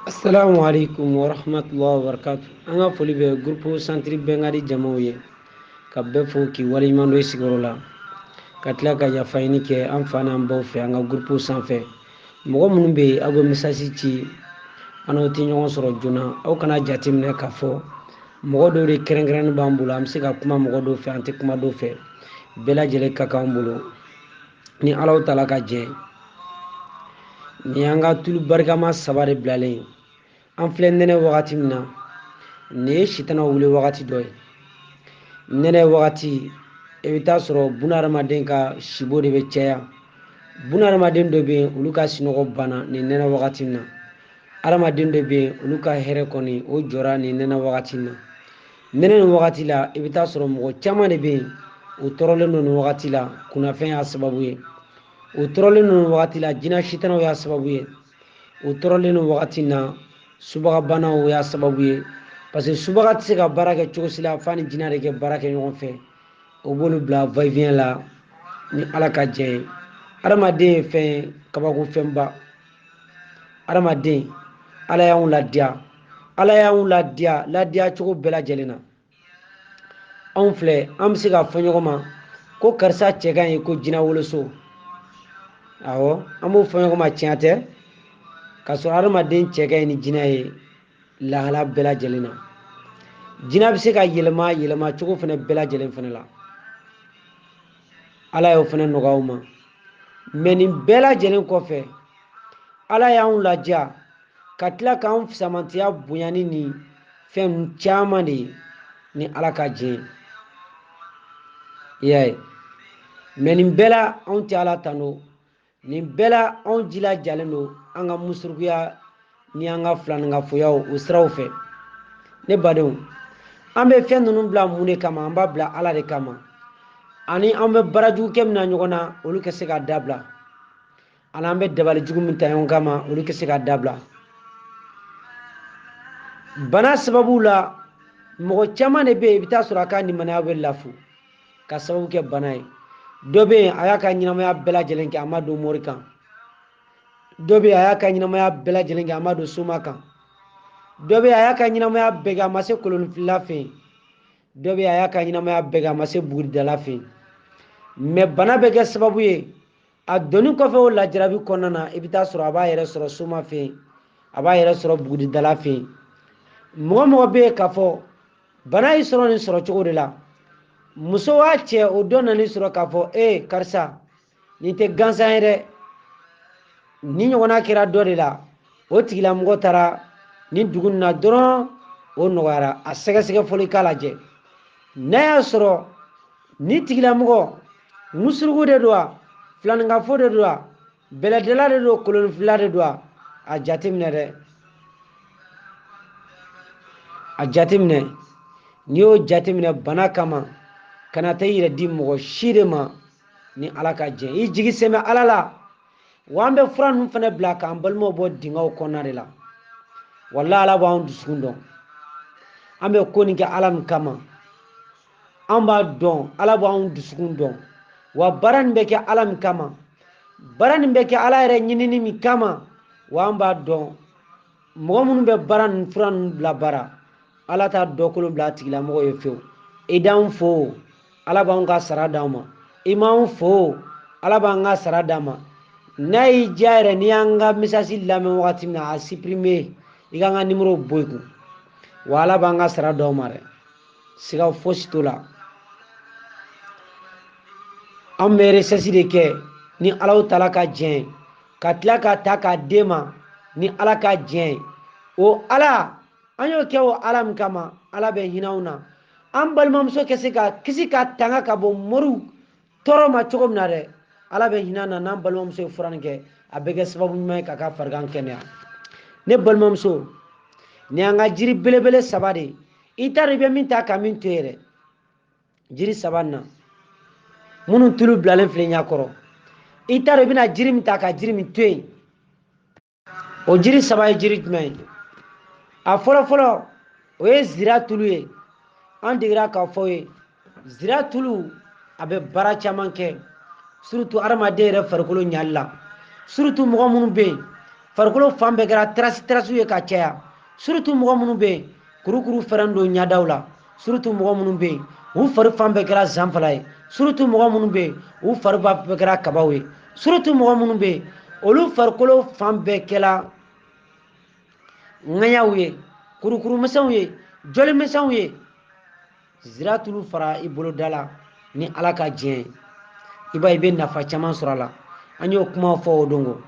Assalamu alaikum wa rahmatullahi wa barakatuh. An ka foli bɛ groupe centre Bɛnkadi jamaw ye. Ka bɛɛ fo k'i waleɲuman dɔn i sigiyɔrɔ la. Ka tila ka yafa ɲini kɛ an fa n'an baw fɛ an ka groupe sanfɛ. Mɔgɔ minnu bɛ yen aw bɛ message ci an n'aw tɛ ɲɔgɔn sɔrɔ joona. Aw kana jateminɛ k'a fɔ mɔgɔ dɔw de kɛrɛnkɛrɛnnen b'an bolo an bɛ se ka kuma mɔgɔ dɔw fɛ an tɛ kuma dɔw fɛ. Bɛɛ lajɛlen ka kan an bolo. ni alahu taala ka jɛ nin y'an ka tulu barikama saba de bilalen ye an filɛ nɛnɛ wagati min na nin ye sitana wuli wagati dɔ ye nɛnɛ wagati i bɛ taa sɔrɔ bunahadamaden ka sibo de bɛ caya bunahadamaden dɔ bɛ yen olu ka sinɔgɔ banna nin nɛnɛ wagati in na hadamaden dɔ bɛ yen olu ka hɛrɛ kɔni o jɔra nin nɛnɛ wagati in na nɛnɛ nin wagati la i bɛ taa sɔrɔ mɔgɔ caman de bɛ yen u tɔɔrɔlen don nin wagati la kunnafɛn y'a sababu ye u tɔɔrɔlen don nin wagati la jinɛ sitanaw y'a sababu ye u tɔɔrɔlen don wagati in na subagabanaw y'a sababu ye parce que subaga tɛ se ka baara kɛ cogo si la f'a ni jinɛ de kɛ baara kɛ ɲɔgɔn fɛ o b'olu bila va et vient la ni ala ka jɛ ye adamaden ye fɛn ye kabako fɛnba adamaden ala y'anw ladiya ala y'anw ladiya ladiya cogo bɛɛ lajɛlen na anw filɛ an bɛ se k'a fɔ ɲɔgɔn ma ko karisa cɛ ka ɲi ko jinɛ woloso awɔ an b'o fɔ ɲɔgɔn ma tiɲɛ tɛ k'a sɔrɔ adamaden cɛ ka ɲi ni jinɛ ye lahala bɛɛ lajɛlen na jinɛ bɛ se ka yɛlɛma yɛlɛma cogo fana bɛɛ lajɛlen fana la ala y'o fana nɔgɔya a ma mais nin bɛɛ lajɛlen kɔfɛ ala y'anw ladiya ka tila k'an fisamantiya bonya ni nifɛn caman de ye ni ala ka jɛ i y'a ye mais nin bɛɛ la anw tɛ ala tando nin bɛɛ la anw jilajalen don an ka musurukuya ni an ka filaninkafoyaw o siraw fɛ ne badenw an bɛ fɛn ninnu bila mun de kama an b'a bila ala de kama ani an bɛ baara jugu kɛ min na ɲɔgɔn na olu ka se ka dabila ani an bɛ dabali jugu min ta ɲɔgɔn kama olu ka se ka dabila bana sababu la mɔgɔ caman de bɛ yen i bɛ taa sɔrɔ a ka limaniya bɛ lafu ka sababu kɛ bana ye dɔ bɛ yen a y'a ka ɲɛnamaya bɛɛ lajɛlen kɛ a ma don mori kan dɔ bɛ yen a y'a ka ɲɛnamaya bɛɛ lajɛlen kɛ a ma don soma kan dɔ bɛ yen a y'a ka ɲɛnamaya bɛɛ kɛ a ma se kolonfilila fɛ yen dɔ bɛ yen a y'a ka ɲɛnamaya bɛɛ kɛ a ma se buguridala fɛ yen mais bana bɛ kɛ sababu ye a donni kɔfɛ o lajarabi kɔnɔna na i bɛ taa sɔrɔ a b'a yɛrɛ sɔrɔ soma fɛ yen a b'a yɛrɛ sɔrɔ buguridala fɛ yen mɔgɔ mɔgɔ bɛ yen k'a fɔ bana y'i sɔrɔ nin sɔrɔ cogo de la muso wa cɛ o dɔ nan'i sɔrɔ k'a fɔ ee karisa nin tɛ gansan ye dɛ nin ɲɔgɔnna kɛra dɔ de la o tigilamɔgɔ taara nin dugu in na dɔrɔn o nɔgɔyara a sɛgɛsɛgɛ fɔlɔ k'a lajɛ n'a y'a sɔrɔ nin tigilamɔgɔ musurugu de don wa filaninkafo de don wa bɛlɛdala de don koloninfilila de don wa a jateminɛ dɛ a jateminɛ n'i y'o jateminɛ bana kama kana taa i yɛrɛ di mɔgɔ si de ma ni ala ka jɛn i jigi sɛmɛ ala la wa an bɛ fura ninnu fana bila k'an balimaw bɔ dingɛw kɔnɔna de la wala ala b'an dusukun dɔn an bɛ ko nin kɛ ala min kama an b'a dɔn ala b'anw dusukun dɔn wa baara nin bɛ kɛ ala min kama baara nin bɛ kɛ ala yɛrɛ ɲinini min kama wa an b'a dɔn mɔgɔ minnu bɛ baara nin fura ninnu bila baara ala t'a dɔ kolon bila a tigilamɔgɔ ye fewu i d'anw fo ala b'anw ka sara d'anw ma i m'anw fo ala b'an ka sara d'an ma n'a y'i diya yɛrɛ n'i y'an ka mesasi lamɛn wagati min na a siprime i k'an ka nimoro bɔ i kun wa ala b'an ka sara d'anw ma dɛ siga fosi t'o la an bɛ resɛsi de kɛ ni alahu taala ka jɛn ka tila k'a ta k'a d'e ma ni ala ka jɛn o ala an y'o kɛ o ala min kama ala bɛ hinɛ anw na an balimamuso ka se ka kisi ka tanga ka bɔ moriw tɔɔrɔ ma cogo min na dɛ ala bɛ hinɛ an na n'an balimamuso ye fura nin kɛ a bɛ kɛ sababu ɲuman ye k'a ka farigan kɛnɛya ne balimamuso nin y'an ka jiri belebele saba de ye i t'a dɔn i bɛ min ta ka min to yen dɛ jiri saba nin na minnu tulu bilalen filɛ ɲɛ kɔrɔ i t'a dɔn i bɛna jiri min ta ka jiri min to yen o jiri saba ye jiri jumɛn ye a fɔlɔ fɔlɔ o ye zira tulu ye an degera k'a f'aw ye zira tulu a bɛ baara caman kɛ surutu adamaden yɛrɛ farikolo ɲali la surutu mɔgɔ minnu bɛ yen farikolo fan bɛɛ kɛra tarasi tarasiw ye ka caya surutu mɔgɔ minnu bɛ yen kurukuru fɛrɛn don ɲadaw la surutu mɔgɔ minnu bɛ yen u fari fan bɛɛ kɛra zanfala ye surutu mɔgɔ minnu bɛ yen u fari bɛɛ kɛra kabaw ye surutu mɔgɔ minnu bɛ yen olu farikolo fan bɛɛ kɛra ŋaɲaw ye kurukuru misɛnw ye joli misɛnw ye zira tulu fara i bolo da la ni ala ka diɲɛ i b'a i bɛ nafa caman sɔrɔ a la an y'o kuma fɔ o don ko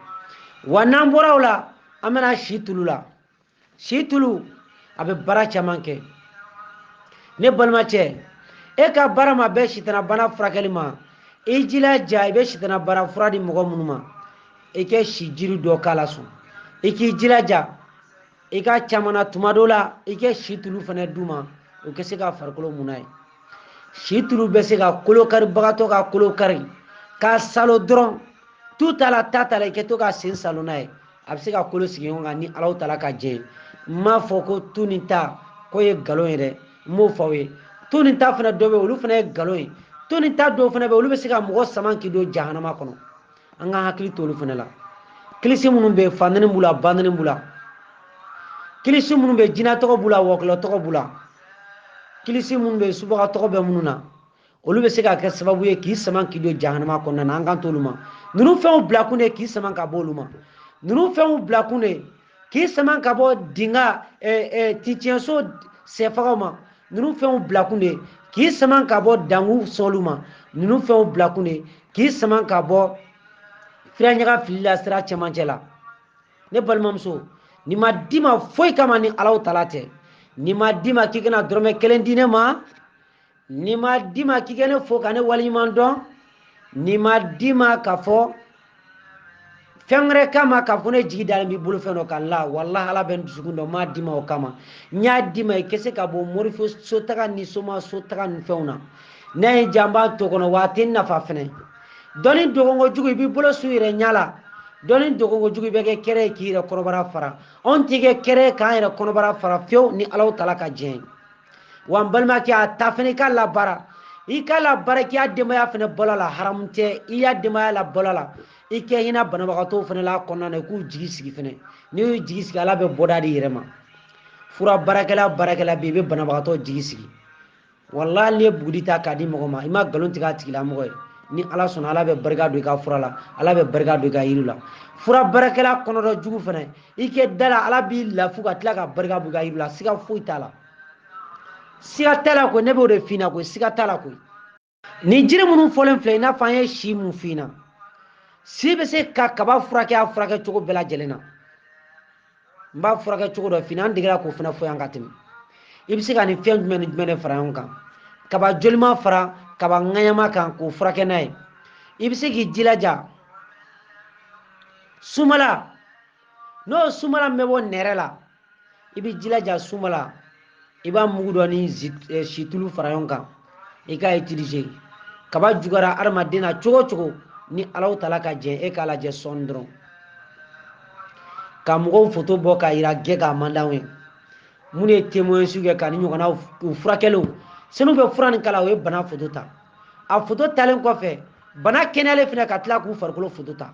wa n'an bɔra o la an bɛ na si tulu la si tulu a bɛ baara caman kɛ ne balimacɛ e ka baara ma bɛn sitanabana furakɛli ma i jilaja i bɛ sitanabana fura di mɔgɔ minnu ma i kɛ si jiri dɔ k'a la sɔn i k'i jilaja i ka caman na tuma dɔ la i kɛ si tulu fana d'u ma u kɛ se ka farikolo mun n'a ye si tulu bɛ se ka kolo karibagatɔ ka kolo kari k'a salo dɔrɔn tu t'a la ta t'a la i kɛ to ka sen salo n'a ye a bɛ se ka kolo sigi ɲɔgɔn kan ni alahu taala ka jɛn ye n m'a fɔ ko tu ni ta ko ye nkalon ye dɛ n b'o fɔ aw ye tu ni ta fana dɔ bɛ yen olu fana ye nkalon ye tu ni ta dɔw fana bɛ yen olu bɛ se ka mɔgɔ sama k'i don jahanama kɔnɔ an ka hakili to olu fana la kilisi minnu bɛ yen fandani b'u la bandani b'u la kilisi minnu bɛ yen jinɛ tɔgɔ b'u la wɔkilɔ tɔgɔ b'u la kilisi minnu bɛ yen subaga tɔgɔ bɛ minnu na olu bɛ se ka kɛ sababu ye k'i saman k'i don jahanama kɔnɔna na an kan t'olu ma ninnu fɛnw bilakun de k'i saman ka bɔ olu ma ninnu fɛnw bilakun de k'i saman ka bɔ dinga tiɲɛso sɛfagaw ma ninnu fɛnw bilakun de k'i saman ka bɔ dankun sɔnlu ma ninnu fɛnw bilakun de k'i saman ka bɔ furaɲaga fili la sira cɛmancɛ la ne balimamuso nin ma d'i ma foyi kama ni alahu taala tɛ nin ma d'i ma k'i kana dɔrɔmɛ kelen di ne ma nin ma d'i ma k'i ka ne fo ka ne waleɲuman dɔn nin ma d'i ma ka fɔ fɛn wɛrɛ kama ka fɔ ne jigi dalen b'i bolo fɛn dɔ kan la walahi ala bɛ n dusukun dɔn n m'a d'i ma o kama n y'a d'i ma i kɛ se ka bɔ morifo sotaga ni soma sotaga nin fɛnw na ne ye janba to kɔnɔ wa a tɛ n nafa fɛnɛ dɔnni dogonko jugu i b'i bolo su i yɛrɛ ɲɛ la dɔnni dogonko jugu i bɛ kɛ kɛrɛ ye k'i yɛrɛ kɔnɔbara fara anw tɛ kɛ kɛrɛ ye k'an yɛrɛ kɔnɔbara fara fewu ni alahu taala ka jɛn ye wa n balimakɛ a ta fana i k'a labaara i k'a labaara k'i ya denbaya fana balo la haramu tɛ i ya denbaya labalo la i kɛ hinɛ banabagatɔw fana la kɔnɔna na i k'u jigi sigi fana n'i y'u jigi sigi ala bɛ bɔda d'i yɛrɛ ma fura baarakɛla baarakɛla bɛ i bɛ banabagatɔ jigi sigi walahi n'i ye buguri ta k'a di mɔgɔ ma i ma nkalon tigɛ a tigilamɔgɔ ye ni ala sɔnna ala bɛ barika don i ka fura la ala bɛ barika don i ka yiri la fura baarakɛla kɔnɔdɔ jugu fana i kɛ d'a la ala b'i lafu ka tila ka barika b'i ka yiri la siga foyi t'a la siga t'a la koyi ne b'o de f'i ɲɛna koyi siga t'a la koyi nin jiri minnu fɔlen filɛ i n'a fɔ an ye si min f'i ɲɛna si bɛ se ka kaba furakɛ a furakɛ cogo bɛɛ lajɛlen na n b'a furakɛ cogo dɔ f'i ɲɛna an degera k'o fana fɔ yan ka tɛmɛ i bɛ se ka nin fɛn jumɛn ni jumɛn de fara ɲɔgɔn kan kaba jolima fara kaba ŋaɲama kan k'o furakɛ n'a ye i bɛ se k'i jilaja sumala n'o sumala min bɛ bɔ nɛrɛ la i bɛ ji laja sumala i b'a mugu dɔ ni eh, situlu fara ɲɔgɔn kan i k'a utiliser kaba juguyara adamaden na cogo o cogo ni alahu taala ka jɛn e k'a lajɛ sɔɔni dɔrɔn ka mɔgɔw foto bɔ k'a yira kɛnɛ kan man d'anw ye minnu ye témoignage kɛ ka nin ɲɔgɔnna u furakɛliw san'u bɛ fura nin k'a la u ye bana foto ta a foto talen kɔfɛ bana kɛnɛyalen fana ka tila k'u farikolo foto ta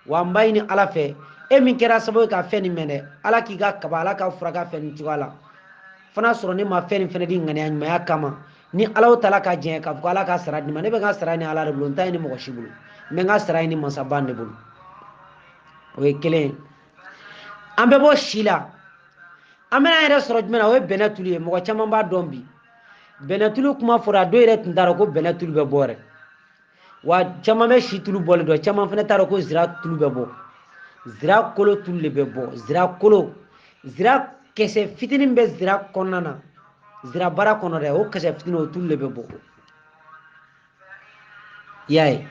wa n b'a ɲini ala fɛ e min kɛra sababu ye ka fɛn nin mɛn dɛ ala k'i ka kaba ala k'a furakɛ fɛn nin cogoya la fana sɔrɔ ne ma fɛn nin fɛnɛ di ŋaniya ɲumanya kama ni ala taala ka jɛn k'a fɔ ala k'a sara di n ma ne bɛ n ka sara ɲini ala de bolo n t'a ɲini mɔgɔ si bolo n bɛ n ka sara ɲini mansaba de bolo o ye kelen ye an bɛ bɔ si la an bɛn'an yɛrɛ sɔrɔ jumɛn na o ye bɛnɛ tulu ye mɔgɔ caman b'a dɔn bi bɛnɛ tulu kuma fɔra a dɔw yɛrɛ tun t'a dɔn ko bɛnɛ tulu bɛ bɔ yɛrɛ wa caman bɛ si tulu bɔlen dɔn caman fana t'a dɔn ko zira tulu bɛ bɔ zira kolo tulu de bɛ bɔ zira kolo zira kisɛ fitinin bɛ zira kɔnɔna na zira bara kɔnɔ dɛ o kisɛ fitinin o tulu de bɛ bɔ i y'a ye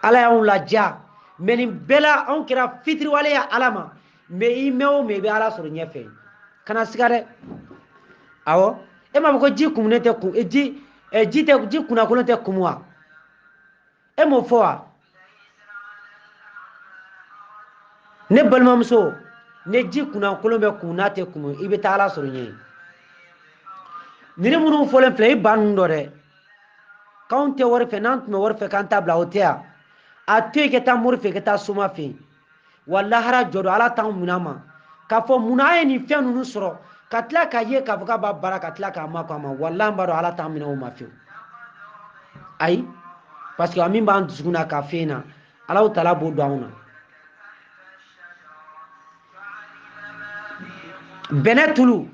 ala y'anw ladiya mɛ nin bɛɛ la anw kɛra fitiriwale ye ala ma mɛɛn i mɛɛn o mɛɛn i bɛ ala sɔrɔ ɲɛfɛ kana siga dɛ awɔ e m'a fɔ ko ji kumunen tɛ kun ji ji tɛ ji kunnakolon tɛ kumu wa e m'o fɔ wa ne balimamuso ne ji kunnakolon bɛ kumu n'a tɛ kumu i bɛ taa ala sɔrɔ ɲɛ ninnu minnu fɔlen filɛ i ba ninnu dɔn dɛ k'anw tɛ wari fɛ n'an tun bɛ wari fɛ k'an t'a bila o tɛ yan a to yen i ka taa mori fɛ i ka taa soma fɛ yen wa lahara jɔdon ala t'anw minɛ a ma k'a fɔ munna an ye nin fɛn ninnu sɔrɔ ka tila k'a ye k'a fɔ k'a b'a baara ka tila ka makun a ma wala an b'a dɔn ala t'an minɛ o ma fiyewu ayi parce que a min b'an dusukun na ka fɛn na ala taala b'o dɔn anw na bɛnɛ tulu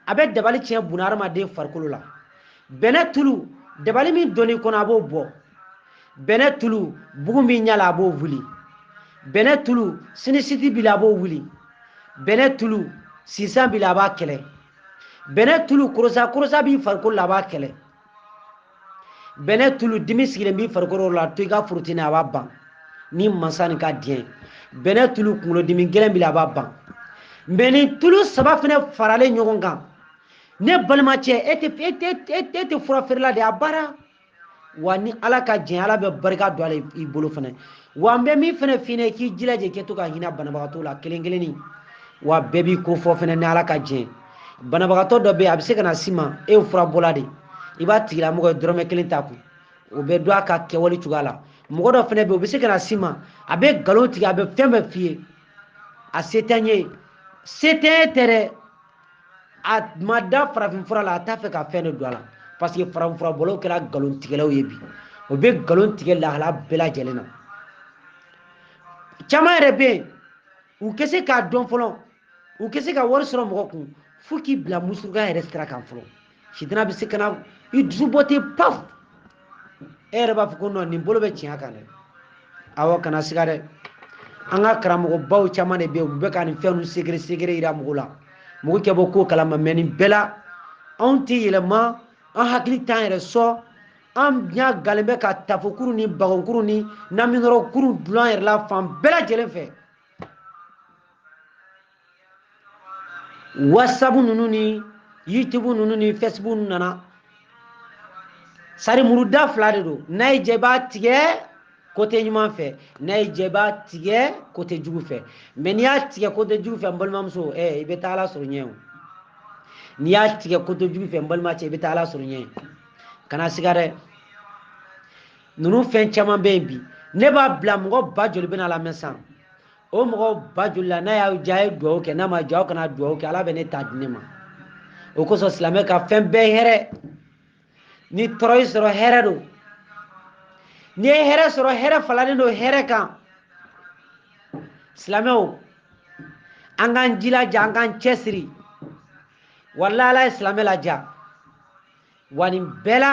a bɛ dabali tiɲɛ bunadamaden farikolo la bɛnɛ tulu dabali min donnen i kɔnɔ a b'o bɔ bɛnɛ tulu bugun b'i ɲa la a b'o wuli bɛnɛ tulu sinisiti b'i la a b'o wuli bɛnɛ tulu sisan b'i la a b'a kɛlɛ bɛnɛ tulu korosa korosa b'i farikolo la a b'a kɛlɛ bɛnɛ tulu dimi sigilen b'i farikolo la to i k'a frotter i na a b'a ban ni mansa nin ka diɲɛ bɛnɛ tulu kunkolodimi gɛlɛn b'i la a b'a ban mɛ ni tulu saba fana faralen ɲɔgɔn kan ne balimacɛ e tɛ e tɛ e tɛ fura feerela de a baara wa ni ala ka jɛn ala bɛ barika don a la i bolo fana wa n bɛ min fana f'i ye k'i jilaja kɛ to ka hinɛ banabagatɔ la kelen kelenni wa bɛɛ b'i ko fɔ fana ni ala ka jɛn banabagatɔ dɔ bɛ yen a bɛ se ka na s'i ma e ye furabɔla de i b'a tigilamɔgɔ ye dɔrɔmɛ kelen t'a kun o bɛ dɔn a ka kɛwale cogoya la mɔgɔ dɔ fana bɛ yen o bɛ se ka na s'i ma a bɛ nkalon tigɛ a bɛ fɛn bɛɛ f'i ye a se tɛ n ye se tɛ e tɛ dɛ a ma da farafinfura la a t'a fɛ ka fɛn de don a la parce que farafinfura bɔlaw kɛra nkalontigɛlaw ye bi o bɛ nkalon tigɛ lahala bɛɛ lajɛlen na caman yɛrɛ bɛ yen u tɛ se k'a dɔn fɔlɔ u tɛ se ka wari sɔrɔ mɔgɔ kun fo k'i bila musuruka yɛrɛ sira kan fɔlɔ sitanɛ bɛ se ka na i dusu bɔ ten paf e yɛrɛ b'a fɔ ko non nin bolo bɛ tiɲɛ kan dɛ aw kana siga dɛ an ka karamɔgɔbaw caman de bɛ yen u bɛ ka nin fɛn ninnu secret secret yira mɔgɔ la mɔgɔ kɛ bɔ ko kalama mais nin bɛɛ la anw tɛ yɛlɛma an hakili t'an yɛrɛ sɔn an ɲa galen bɛ ka tafokuru ni bagonkuru ni naminɔrɔkuru dul'an yɛrɛ la fan bɛɛ lajɛlen fɛ whatsapp ninnu ni youtube ninnu ni facebook ninnu nana sarimuru da fila de don n'a y'i ja i b'a tigɛ côté ɲuman fɛ n'a y'i ja i b'a tigɛ côté jugu fɛ mais n'i y'a tigɛ côté jugu fɛ n balimamuso ɛ i bɛ taa ala sɔrɔ ɲɛ o n'i y'a tigɛ côté jugu fɛ n balimacɛ i bɛ taa ala sɔrɔ ɲɛ kana siga dɛ ninnu fɛn caman bɛ yen bi ne b'a bila mɔgɔ ba joli bɛn'a lamɛn san o mɔgɔ ba joli la n'a y'a ja a ye dugawu kɛ n'a m'a ja aw kana dugawu kɛ ala bɛ ne ta di ne ma o kosɔn silamɛ ka fɛn bɛɛ hɛrɛ ni tɔɔrɔ y'i sɔrɔ hɛrɛ don n'i ye hɛrɛ sɔrɔ hɛrɛ falalen don hɛrɛ kan silamɛw an k'an jilaja an k'an cɛsiri walayi ala ye silamɛ laja wa nin bɛɛ la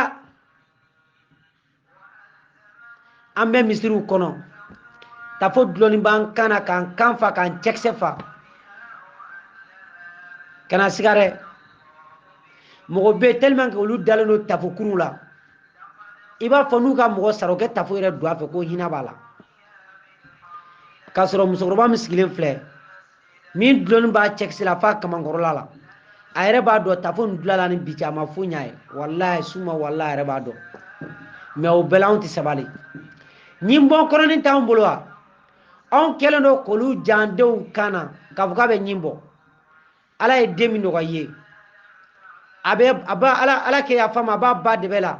an bɛ misiriw kɔnɔ tafo dulonni b'an kan na k'an kan fa k'an cɛkisɛ fa kana siga dɛ mɔgɔ bɛ tellement que olu dalen don tafokuruw la i b'a fɔ n'u ka mɔgɔ sara o kɛ tafo yɛrɛ don a fɛ ko hinɛ b'a la k'a sɔrɔ musokɔrɔba min sigilen filɛ min dulonni b'a cɛkisɛ la f'a kamankɔrɔla la a yɛrɛ b'a dɔn tafo nin dul'a la ni bi cɛ a ma foyi ɲ'a ye walayi suma walayi a yɛrɛ b'a dɔn mais o bɛɛ la anw tɛ sabali ɲinbɔ kɔnɔnin t'anw bolo wa anw kɛlen don k'olu jan denw kan na k'a fɔ k'a bɛ ɲin bɔ ala ye den min nɔgɔya i ye a bɛ a ba ala ala ka yafa an ma a b'a ba dɛbɛ la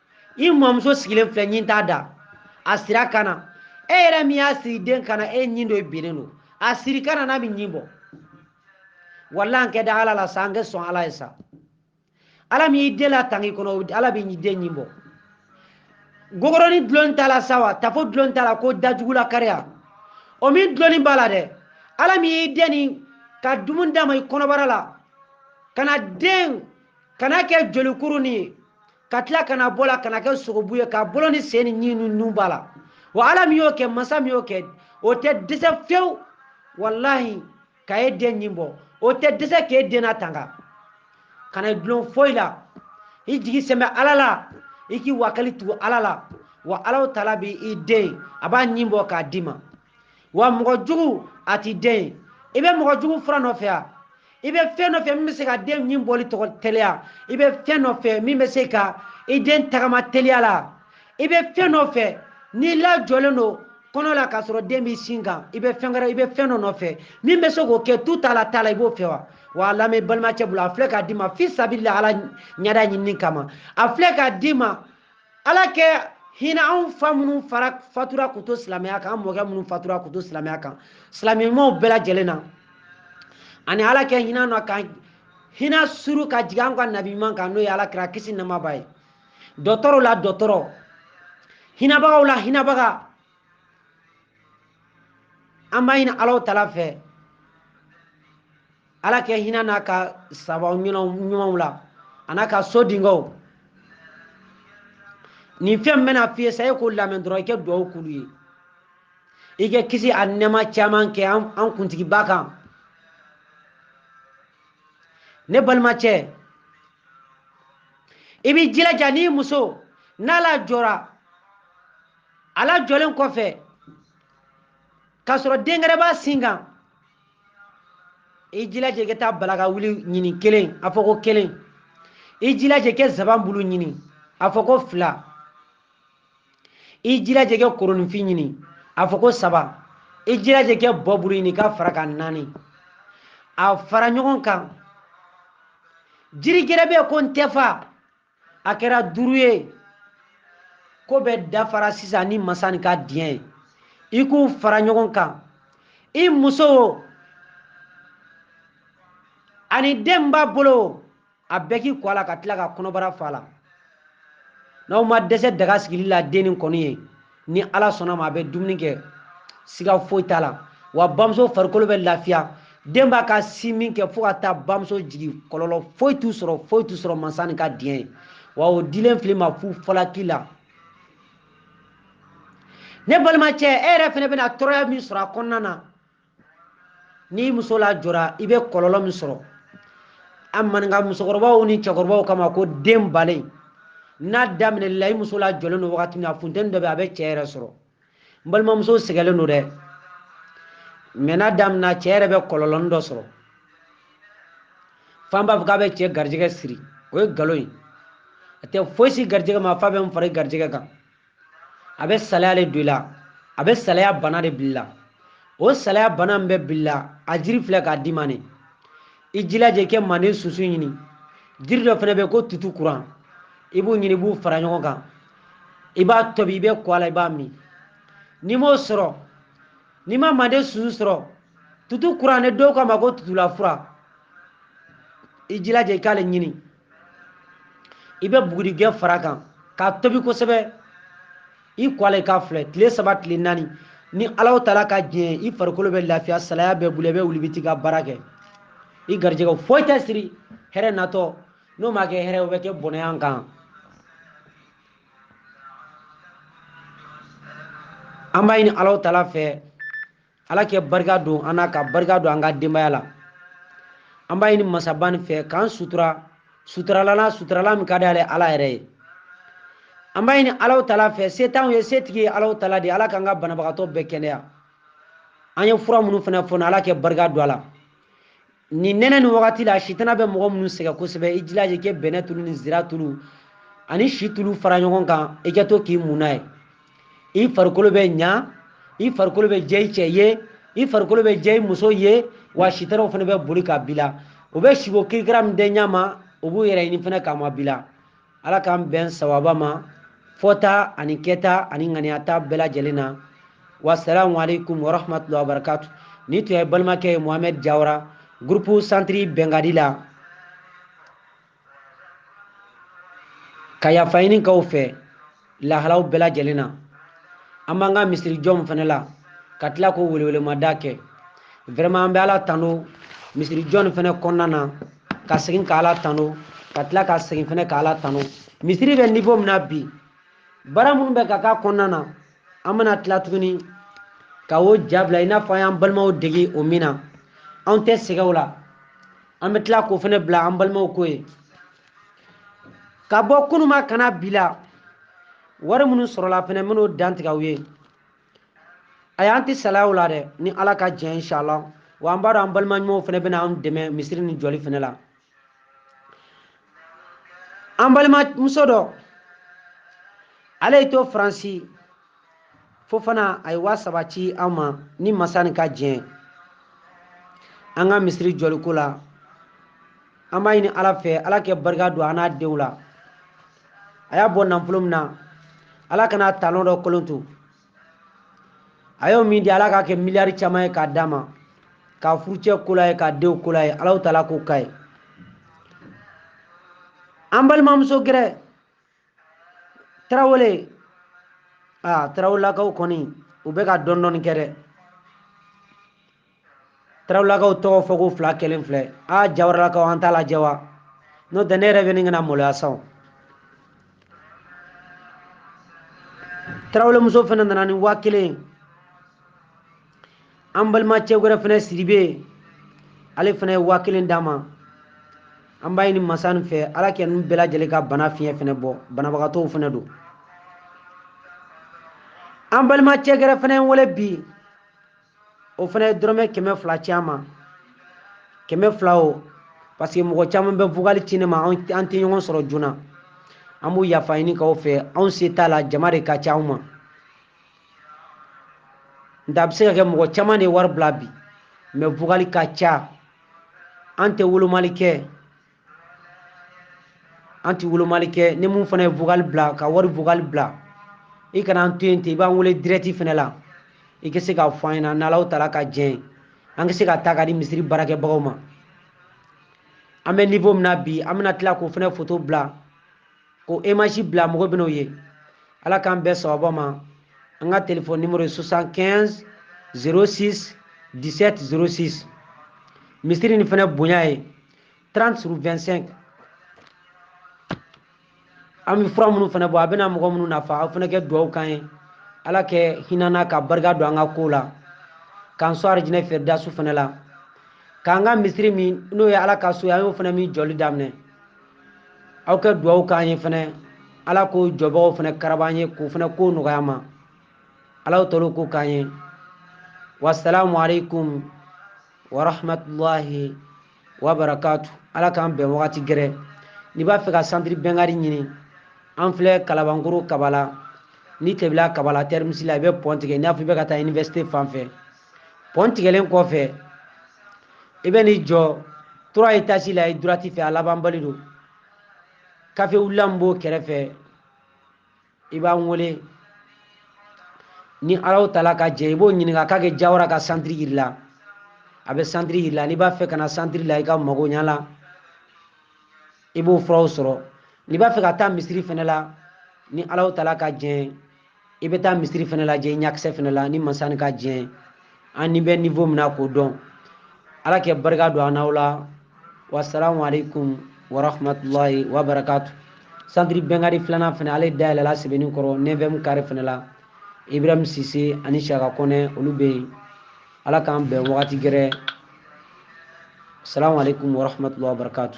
i mɔmuso sigilen filɛ ɲin t'a da a sir'a kan na e yɛrɛ min y'a siri den kan na e ɲin dɔ binnen don a siri kan na n'a bɛ ɲin bɔ walahi an kɛ da ala la sa an kɛ sɔn ala ye sa ala min y'i den latang'i kɔnɔ ala bɛ den ɲin bɔ gogoroni dulon t'a la sa wa tafo dulon t'a la ko dajugu lakariya o min dulonni b'a la dɛ ala min y'i den nin ka dumuni d'a ma i kɔnɔbara la ka na den ka n'a kɛ jolikuruni ye ka tila ka n'a bɔ la ka n'a kɛ sogobu ye k'a bolo ni sen ni ɲin ni nun b'a la wa ala min y'o kɛ masa min y'o kɛ o tɛ dɛsɛ fewu walahi ka e den ɲin bɔ o tɛ dɛsɛ k'e den natanga kana i dulon foyi la i jigi sɛmɛ ala la i k'i wakali tugu ala la wa alahu taala b'i den a b'a ɲin bɔ k'a d'i ma wa mɔgɔ jugu a t'i den i bɛ mɔgɔ jugu fura nɔfɛ wa i bɛ fɛn dɔ fɛ min bɛ se ka den ɲin bɔli tɔgɔ teliya i bɛ fɛn dɔ fɛ min bɛ se ka i den tagama teliya la i bɛ fɛn dɔ fɛ n'i lajɔlen don kɔnɔ la k'a sɔrɔ den b'i sin kan i bɛ fɛn wɛrɛ i bɛ fɛn dɔ nɔfɛ min bɛ se k'o kɛ tu t'a la t'a la i b'o fɛ wa wa a lamɛn balimacɛ bolo a filɛ k'a d'i ma fi sabilila ala ɲɛda ɲinini kama a filɛ k'a d'i ma ala kɛ hinɛ anw fa minnu fara fatura k'u to silamɛya kan an mɔkɛ minnu fatura k'u to silamɛya kan silamɛ ɲumanw bɛɛ lajɛlen na ani ala kɛ hinɛ na ka hinɛ suuru ka jigin an ka nabi ɲuman kan n'o ye ala kira kisi nɛɛma b'a ye dɔtɔrɔw la dɔtɔrɔ hinɛbagaw la hinɛbaga an b'a ɲini alahu taala fɛ ala kɛ hinɛ n'a ka sahaba ɲumanw la an'a ka so denkɛw nin fɛn bɛna f'i ye sa e k'o lamɛn dɔrɔn i kɛ dugawu k'olu ye i kɛ kisi a nɛɛma caman kɛ an kuntigiba kan ne balimacɛ i b'i jilaja n'i muso n'a lajɔra a lajɔlen kɔfɛ k'a sɔrɔ dengɛrɛn b'a sin kan i jilaja i ka taa balakawuli ɲini kelen a fɔ ko kelen i jilaja kɛ zaban bulu ɲini a fɔ ko fila i jilaja kɛ koronifin ɲini a fɔ ko saba i jilaja kɛ bɔ bulu ɲini k'a fara kan naani a fara ɲɔgɔn kan jiri gɛrɛ bɛ ko ntɛfa a kɛra duuru ye ko bɛɛ dafara sisan ni masa ni ka diɲɛ ye i k'u fara ɲɔgɔn kan i muso o ani den b'a bolo o a bɛɛ k'i ko a la ka tila ka kɔnɔbara f'a la n'aw ma dɛsɛ daga sigili la den ni kɔni ye ni ala sɔnna ma a bɛ dumuni kɛ siga foyi t'a la wa bamuso farikolo bɛ lafiya den b'a ka sinmin kɛ fo ka taa bamuso jigin kɔlɔlɔ foyi t'u sɔrɔ foyi t'u sɔrɔ mansa ni ka diɲɛ ye wa o dilen fil'i ma fu falaki la ne balimacɛ e yɛrɛ fɛnɛ bɛna tɔɔrɔya min sɔrɔ a kɔnɔna na n'i muso lajɔra i bɛ kɔlɔlɔ min sɔrɔ an maninka musokɔrɔbaw ni cɛkɔrɔbaw k'a ma ko den balen n'a daminɛ la i muso lajɔlen don wagati min na funteni dɔ bɛ a bɛ cɛ yɛrɛ sɔrɔ n balimamuso sɛgɛlen don dɛ mɛ n'a daminɛ cɛ yɛrɛ bɛ kɔlɔlɔni dɔ sɔrɔ fan b'a fɔ k'a bɛ cɛ garijɛgɛ siri o ye nkalon ye a tɛ foyi si garijɛgɛ ma f'a bɛ n fara garijɛgɛ kan a bɛ salaya de don i la a bɛ salaya bana de bila i la o salaya bana min bɛ bila i la a jiri filɛ k'a d'i ma ne i jilaja i kɛ manden sunsun ɲini jiri dɔ fɛnɛ bɛ ko tutu kuran i b'u ɲini i b'u fara ɲɔgɔn kan i b'a tobi i bɛ ko a la i b'a min n'i m'o sɔrɔ n'i ma manden sunsun sɔrɔ tutu kuran ne dɔw k'a ma ko tutulafura i jilaja i k'ale ɲini i bɛ bugurijɛ far'a kan k'a tobi kosɛbɛ i ko a la i k'a filɛ tile saba tile naani ni alaw taala ka diɲɛ i farikolo bɛ lafiya salaya bɛ boli i bɛ wuli i bɛ t'i ka baara kɛ i garijɛgɛ foyi tɛ siri hɛrɛ natɔ n'o ma kɛ hɛrɛ o bɛ kɛ bɔnɛya kan an b'a ɲini alaw taala fɛ ala kɛ barika don an na ka barika don an ka denbaya la an b'a ɲini masaba nin fɛ k'an sutura suturalan na suturalan min ka di ale ala yɛrɛ ye an b'a ɲini alaw taala fɛ se t'anw ye setigi ye alaw taala de ala k'an ka banabagatɔ bɛɛ kɛnɛya an ye fura minnu fana fɔ ala kɛ barika don a la nin nɛnɛ nin wagati la sitana bɛ mɔgɔ minnu sɛgɛn kosɛbɛ i jilaja i kɛ bɛnɛ tulu ni zira tulu ani si tulu fara ɲɔgɔn kan i kɛ to k'i mun n'a ye i farikolo bɛ ɲa i farikolo bɛ jɛ i cɛ ye i farikolo bɛ jɛ i muso ye wa sitanaw fana bɛ boli k'a bila u bɛ siko kirikira min dɛ ɲa ma u b'u yɛrɛ ɲini fana k'a mabila ala k'an bɛn sawaba ma fɔta ani kɛta ani ŋaniyata bɛɛ lajɛlen na wasalamu alaikum warahmatullahi wabarakatu nin tun ye balimakɛ ye mohamɛd jawara groupe centre bɛnkadi la ka yafa ɲini k'aw fɛ lahalaw bɛɛ lajɛlen na an b'an ka misiri jɔ nin fana la ka tila k'o welewelemada kɛ vraiment an bɛ ala tano misiri jɔ nin fana kɔnɔna na ka segin ka ala tano ka tila ka segin fana ka ala tano misiri bɛ niveau min na bi baara minnu bɛ ka k'a kɔnɔna na an bɛna tila tuguni ka o ja bila i n'a fɔ an y'an balimaw dege o min na anw tɛ sɛgɛn o la an bɛ tila k'o fana bila an balimaw ko ye ka bɔ kunun ma ka na bi la wari minnu sɔrɔla fɛnɛ n bɛn'o dantigɛ aw ye a y'an tɛ salaya o la dɛ ni ala ka jɛn inshallah wa an b'a dɔn an balima ɲumanw fɛnɛ bɛna an dɛmɛ misiri nin jɔli fɛnɛ la an balimamuso dɔ ale y'i to faransi fo fana a ye waa saba ci an ma ni masa nin ka diɲɛ an ka misiri jɔliko la an b'a ɲini ala fɛ ala kɛ barika don a n'a denw la a y'a bɔ nafolo min na ala kana talon dɔ kolon to a y'o min di ala k'a kɛ miliyari caman ye k'a d'a ma k'a furucɛ kol'a ye k'a denw kol'a ye alahu taala k'o k'a ye an balimamuso gɛrɛ tarawele aa tarawelakaw kɔni u bɛ ka dɔɔni dɔɔni kɛ dɛ tarawelakaw tɔgɔ fɔ ko fila kɛlen filɛ aa jawaralakaw an t'a lajɛ wa n'o tɛ ne yɛrɛ bɛ ne kana maloya sa tarawelemuso fana nana ni waa kelen an balimacɛ wɛrɛ fana sidibe ale fana ye waa kelen d'an ma an b'a ɲini masa nin fɛ ala kɛ ninnu bɛɛ lajɛlen ka bana fiɲɛ fana bɔ banabagatɔw fana don an balimacɛ gɛrɛ fana ye wele bi o fana ye dɔrɔmɛ kɛmɛ fila ci an ma kɛmɛ fila o parce que mɔgɔ caman bɛ vocal ci ne ma an tɛ ɲɔgɔn sɔrɔ joona an b'o yafa ɲini k'aw fɛ anw se t'a la jama de ka ca anw ma nka a bɛ se ka kɛ mɔgɔ caman de ye wari bila bi mais vocal ka ca an tɛ wolomali kɛ an tɛ wolomali kɛ ni min fana ye vocal bila ka wari vocal bila i kana an to yen ten i b'an wele dirɛti fana la i ka se k'a fɔ an ɲɛna n'alahu taala ka jɛn an ka se ka taa k'a di misiri baarakɛbagaw ma an bɛ nivo min na bi an bɛna tila k'o fana foto bila k'o image bila mɔgɔ bɛn'o ye ala k'an bɛɛ sababa ma an ka telefɔni nimoro ye 75 06 17 06 misiri nin fana bonya ye 30 sur 25 an bɛ fura minnu fana bɔ a bɛna mɔgɔ minnu nafa aw fana kɛ dugawu k'an ye ala kɛ hin'an na ka barika don an ka kow la k'an sɔn arijinɛ fɛridasu fana la k'an ka misiri min n'o ye ala ka so ye an y'o fana min jɔli daminɛ aw kɛ dugawu k'an ye fɛnɛ ala k'o jɔbagaw fɛnɛ karaba an ye k'o fɛnɛ ko nɔgɔya an ma alahu taala k'o k'an ye wasalamu alaikum warahmatulahi wabarakatu ala k'an bɛn wagati gɛrɛ n'i b'a fɛ ka santiri bɛnkari ɲini an filɛ kalabankoro kabala ni tebila kabala terminus la i bɛ pɔn tigɛ i n'a fɔ i bɛ ka taa université fan fɛ pɔn tigɛlen kɔfɛ i bɛ n'i jɔ turuwa etazi la i durati fɛ a labanbali don kafe wulila min b'o kɛrɛfɛ i b'an wele ni alahu taala ka jɛn i b'o ɲininka k'a ka jawara ka santiri yira i la a bɛ santiri yira i la n'i b'a fɛ ka na santiri la i ka magoya la i b'o furaw sɔrɔ n'i b'a fɛ ka taa misiri fɛnɛ la ni alahu taala ka jɛn i bɛ taa misiri fana lajɛ i ɲakisɛ fana la ni masani ka jɛn an ni bɛ nivo min na k'o dɔn ala ka barika don an n'aw la wasalamu aleykum warahmatulahi wabarakatu santiri bɛnkari filanan fana ale dayɛlɛla sebenikɔrɔ neviyɛmu kare fana la ibrahim sise ani siyaka kɔnɛ olu bɛ yen ala k'an bɛn wagati gɛrɛ salamu aleykum warahmatulahi wabarakatu